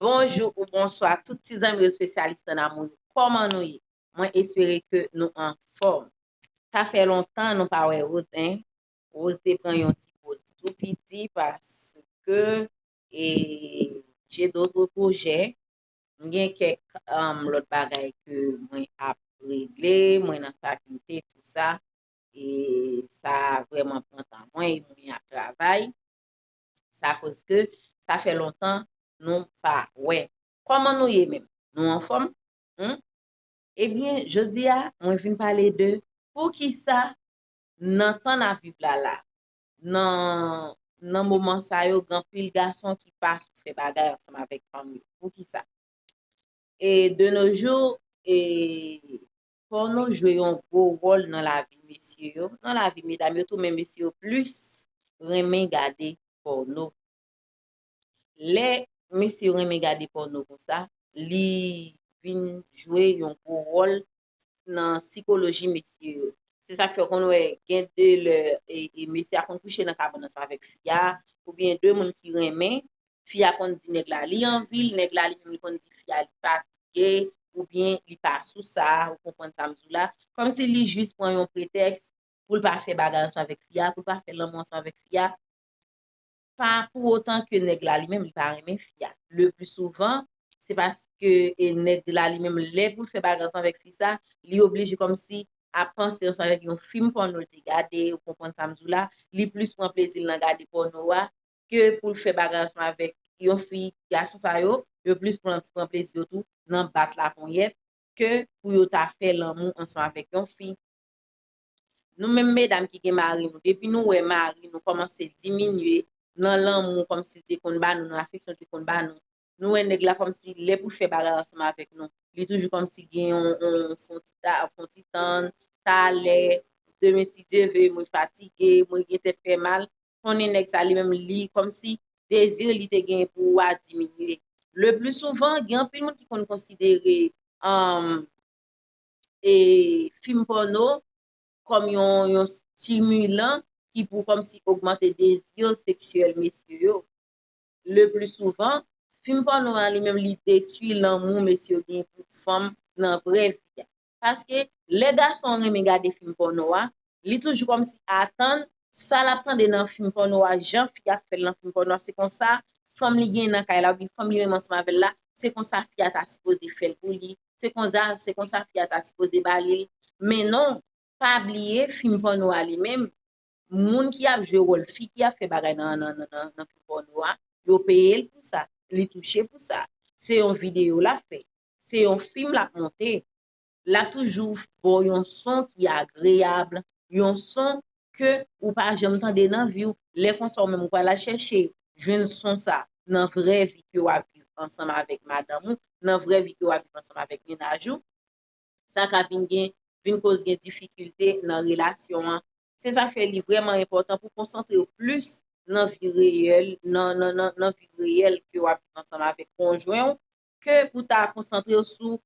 Bonjou ou bonswa tout ti zanmi yo spesyalis nan damou yo kòman nou ye mwen espere ke nou anfòm sa fè lontan nou pa wè Rose hein Rose te pran yon ti poz tou piti paske e j'ai d'autres projets m gen kèk lòt bagay ke mwen ap regle mwen nan fakilte tout sa e sa vrèman pran tan mwen e mwen ap travay sa koz ke sa fè lontan nou pa wè kòman nou ye menm nou anfòm humm ebyen jodia mwen vin pale de poukisa nan tan nap viv la la nan nan moman sa yo gen anpil gason ki pa sou fè bagay ansanm avèk fanm yo poukisa e de no jou e Pòno jwe yon gwo wòl nan lavi mesye yo, nan lavi medam yo tou men mesye yo plis renmen gade pòno. Lè mesye yo renmen gade pòno konsa, li vin jwe yon gwo wòl nan sikoloji mesye yo. Se sa k fè ou konn wè gen de lè mesye a konn kouche nan kabann ansanm avèk fi a oubyen de moun ki renmen fi a konn di nèg la li anvi l, nèg la li menm li konn di fi a li fatige oubyen li pa sou sa, ou konprann sa m di w la, kòmsi li jis pran yon pretèks pou l pa fè bagay ansanm avèk fi a, pou l pa fè lanmou ansanm avèk fi a, pa pou otan ke nèg la li menm li pa renmen fi a, le pli souvan se paske e nèg la li menm lè pou l fè bagay ansanm avèk fi sa, li oblije kòmsi ap panse ansanm avèk yon fim pòno l te gade, ou konprann sa m di w la, li plis pran plezi l nan gade pòno a, ke poul fè bagay ansanm avèk yon fi gason sa yo yo plis pran pran plezi yo tou nan bat la ponyèt ke pou yo ta fè lanmou ansanm avèk yon fi nou menm medam ki gen mari nou depi nou wè mari nou kòmanse diminye nan lanmou kòmsi l te konn ba nou nan afeksyon l te konn ba nou nou wè nèg la kòmsi lè poul fè bagay ansanm avèk nou li toujou kòmsi gen yon fon ti ta fon ti tann talè demen si Dye ve mwen fatige mwen gen tèt fè mal konnen nèg sa li menm li kòmsi dezi li te genyen pou ou a diminye. Le pli souvan gen anpil moun ki konn konsidere fim pòno kòm yon stimulan ki pou kòmsi ogmante dezi seksyèl mesye yo. Le pli souvan, fim pòno a li menm li detui lanmou mesye yo genyen pou fanm nan vrè vi a. paske lè gason renmen gade fim pòno a li toujou kòmsi atann sa lap tande nan fim pòno a jan fi a fèl nan fim pòno a se konsa fanm li genyen nan kay la oubyen fanm li renmen ansanm avèl la se konsa fi a ta sipoze fèl pou li se konsa se konsa fi a ta sipoze ba lil men non pa bliye fim pòno a li menm moun ki ap jwe wòl fi ki ap fè bagay nan nan nan fim pòno a yo peyel pou sa li touche pou sa se yon videyo lap fè Se yon fim lap monte. La toujou baw yon son ki agreable, yon son ke ou pa janm tande nan viw, lè konsa ou menm ou pral al chèche jwenn son sa nan vrè vi ke wap viv ansanm avèk madanm ou, nan vrè vi ke wap viv ansanm avèk mennaj ou, sa ka vin gen, vin koz gen difikilte nan relasyon an. Se sa fè li vrèman enpòtan pou konsantrew plis nan vi reyèl, nan nan nan vi reyèl ke wap viv ansanm avèk konjwen ou, ke pou ta konsantre w sou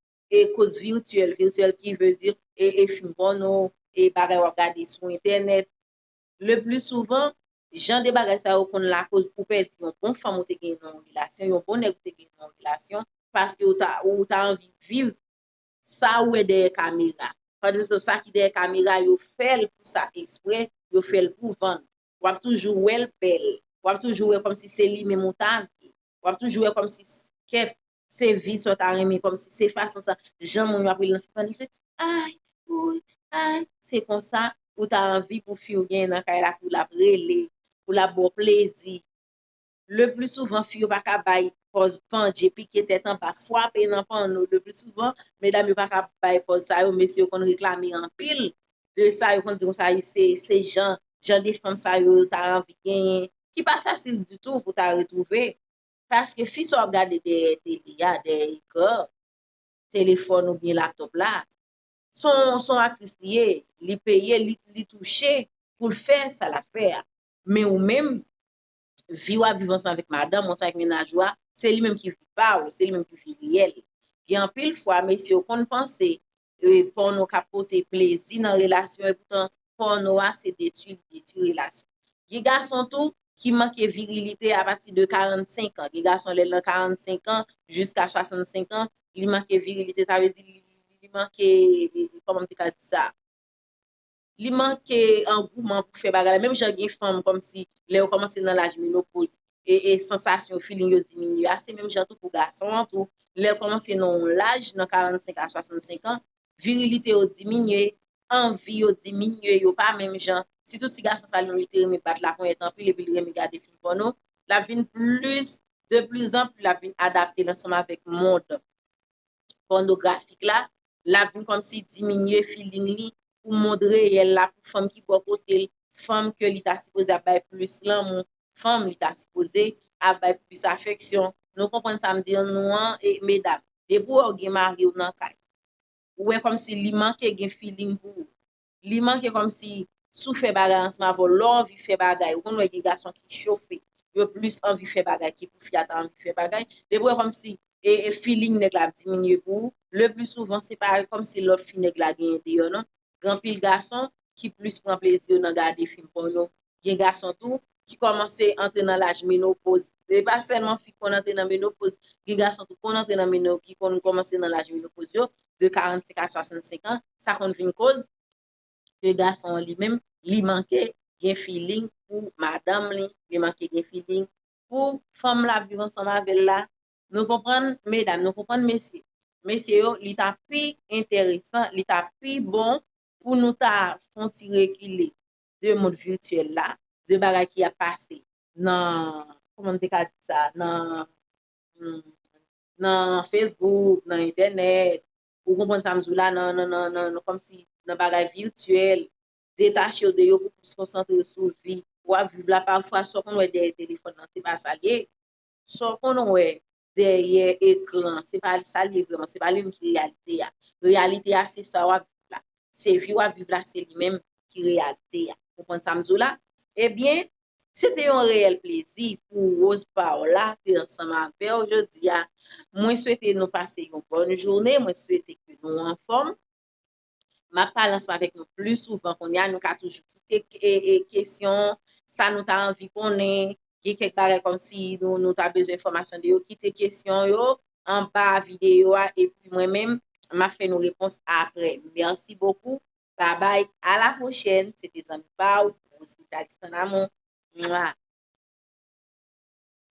koz virtyèl, virtyèl ki vle di e fim pòno, e bagay w ap gade sou entènèt. Le pli souvan, jan de bagay sa yo konn lakoz ou pèdi yon bon fanm ou te genyen nan yon relasyon, yon bon nèg ou te genyen nan yon relasyon, paske ou ta anvi viv sa ou wè dèyè kamera. Swadizan sa ki dèyè kamera yo fè l pou sa eksprè, yo fè l pou vann. W ap toujou wè l bèl, w ap toujou wè kòmsi se li menm ou ta vle. wap toujou wè kòmsi kèt se vi sa w ta renmen kòmsi se fason sa jan moun yo ap rele nan fèt fanmi se ay woy ay se konsa ou ta anvi pou fi w genyen nan kay la pou l ap rele pou l ap ba w plezi lepli souvan fi yo pa ka bay pòz pandje pike tèt anba fwape nan panno lepli souvan medam yo pa ka bay pòz sa yo mesye yo konn reklame anpil de sa yo konn di konsa se jan jan de fanm sa yo ta anvi genyen ki pa fasil ditou pou ta retwouve paske fi sa w ap gade dèyè tele a, dèyè ekran telefòn oubyen laptòp la s on aktris li ye, li peye, li touche pou l fè sa l ap fè a men ou menm vi w ap viv ansanm avèk madanm ou ansanm avèk mennaj ou a se li menm ki vi pa w, se li menm ki vi reyèl gen anpil fwa mesye yo konn panse Pòno ka pote plezi nan relasyon epoutan pòno a se detui li detui relasyon. Gen gason tou ki manke virilite apati de 45 an, gen gason lè l nan 45 an jiska 65 an li manke virilite sa vle di li manke kòman m te ka di sa. Li manke angouman pou fè bagay la menm jan gen fanm kòmsi lè yo kòmanse nan laj menopoz e sansasyon yo, feeling yo diminye a se menm jan tou pou gason an tou lèl kòmanse nan yon laj nan 45 a 65 an virilite yo diminye, anvi yo diminye yo pa menm jan, sitou si gason sa li menm li te renmen bat laponyèt anpil epi li renmen gade fim pòno lap vin plis de plis anpli lap vin adapte l ansanm avèk mond. pònografik la, lap vin kòmsi diminye feeling li pou mond reyèl la, pou fanm ki bò kote l, fanm ke li ta sipoze ap bay plis lanmou, fanm li ta sipoze ap bay plis afeksyon. Nou konprann sa m di nou an e medam, depi w wè w gen mari w nan kay, ou wè kòmsi li manke gen feeling pou ou, Li manke komsi sou fè bagay ansanm avèw lè w anvi fè bagay ou konn wè gen gason ki chofe yo plis anvi fè bagay ki pou fi a ta anvi fè bagay depi wè komsi filing nèg la ap diminye pou ou le pli souvan se pa komsi love fi nèg la genyen deyò non gen anpil gason ki plis pran plezi yo nan gade fim pòno gen gason tou ki kòmanse antre nan laj menopoz. Se pa sèlman fi ki konn antre nan menopoz, gen gason tou ki konn antre nan menopoz, ki konn kòmanse nan laj menopoz yo, de 45 a 65 an, sa konn vin koz ke gason an li menm, li manke gen filing pou madanm li, li manke gen filing pou fanm lap viv ansanm avèl la, nou konprann medam, nou konprann mesye, mesye yo li ta pi enteresan, li ta pi bon pou nou ta fon ti rekile, de mond virtuel la, de bagay ki ap pase nan, kouman m te ka di sa, nan, nan Facebook, nan entènèt, ou konprann sa m di w la, nan, nan, nan, kòm si, nan bagay virtuel, detache w de yo pou plis konsantre sou vi w ap viv la, pafwa sa w konn wè dèyè telefòn nan se pa sa l ye, sa w konn wè dèyè ekran, se pa sa l ye vrèman, se pa li menm ki reyalite a. Reyalite a se sa w ap viv la. Se vi w ap viv la, se li menm ki reyalite a. Ou konprann sa m di w la? Ebyen, se te yon reyèl plezi pou Rose Paola te ansanm avè w jodi a. Mwen swete nou pase yon bòn jounen, mwen swete ke nou anfòm. M ap pale ansanm avèk nou pli souvan kounye a, nou ka toujou kite kesyon, sa nou ta anvi konnen, gen kèk bagay kòmsi nou ta bezwen enfòmasyon de yo, kite kesyon yo anba videyo a epi mwen menm m ap fè nou repons aprè. Mèsi bokou, babay, alapwochèn, se te zanmi pa ou, Rose Vitalis Ton Amour. Mwah!